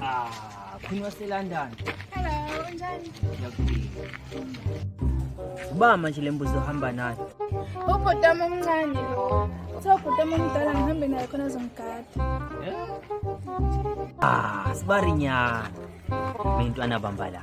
Ah, khuni waseLondon. Hello, unjani? Ngiyakuphila. Uba manje le mbuzi ohamba nayo. Ubhuti wami omncane lo. Uthe ubhuti wami omdala ngihambe naye khona azongigada. Ah, sibarinyana. Bentwana bamba la.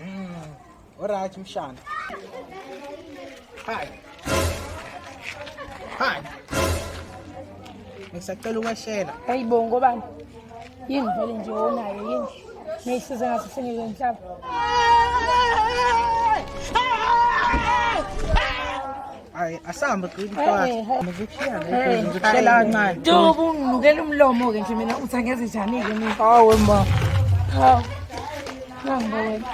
Mm, alright mshana. Hi. Hi. Ngisacela ukwashela. Hayi bo ngobani? Yini vele nje onayo yini? Ngiyisize ngathi sengeke ngihlaba. Hayi asambe qini mfana. Ngikushiyana ngikushiyana ngikushiyana kancane. Dubu nginukela umlomo ke nje mina uthi angeze njani ke mina. Hawe ma. Hawu. Nangibo wena.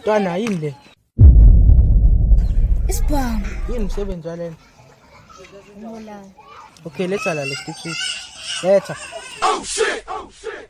Twana yini le? Isibhamu. Yini msebenzi walena? Umolala. Okay, letha la lesitipsi. Letha. Oh shit. Oh shit.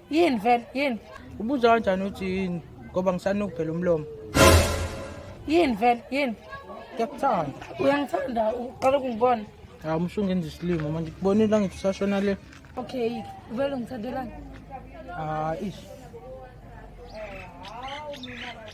yini vele yini ubuza kanjani uthi yini ngoba ngisanukhu phela umlomo yini vele yini ngiyakuthanda uyangithanda uqala ukungibona hawu umshunge enza isilimo manje kubonile la ngithi usashona le okay vele ungithandelani hayi ish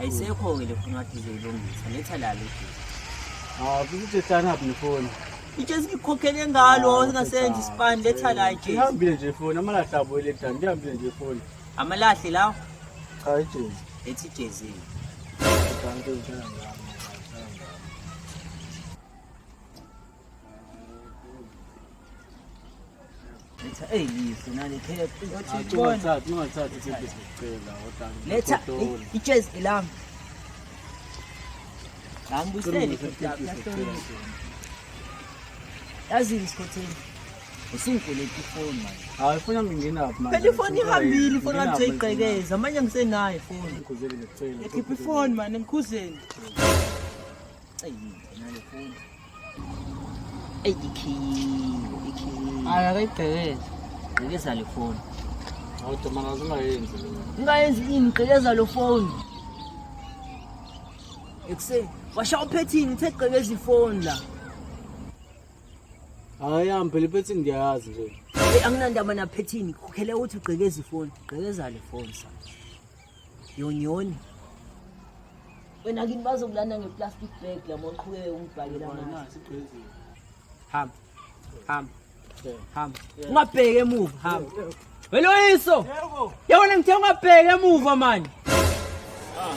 ayisekho-ke le foni wathi izoyilungisa letha lalo akukuthethana phi nefoni itshe sikukhokhele ngalo singasenza isipani letha la itshe ihambile nje foni amalahle abo eletani ndihambile nje foni amalahle lawo cha ijezi ethi ijezi Thank you. eyilise nalekhephiletha ijezi elami ngambusele yazini isikhotheni usingikweleta ifoni manje hayi funa ngingenaphi manje phela ifoni ihambile ifoni kade seyiqekeza amanye ngisenayo ifoni ngikhuzele ngicela ekhipha ifoni manje ngikhuzele eyi nale foni eyi ikhiyiwe ikhiyiwe hayi akayigqekezi gqekeza le foni kodwa maka zingayenzi ungayenzi ini gqekeza lo foni ekuseni washa uphethini uthe gqekeza ifoni la hayi yami phela ipethi ngiyayazi nje eyi anginandaba naphethini khokhele ukuthi ugqekeza ifoni gqekeza le foni sa yonyoni wena kini bazokulanda ngeplastic bag lama uqhubeke ungibhakela amanzi hamba hamba hamba ungabheki emuva hamba weloyiso yabona ngithe ungabheki emuva manje ah,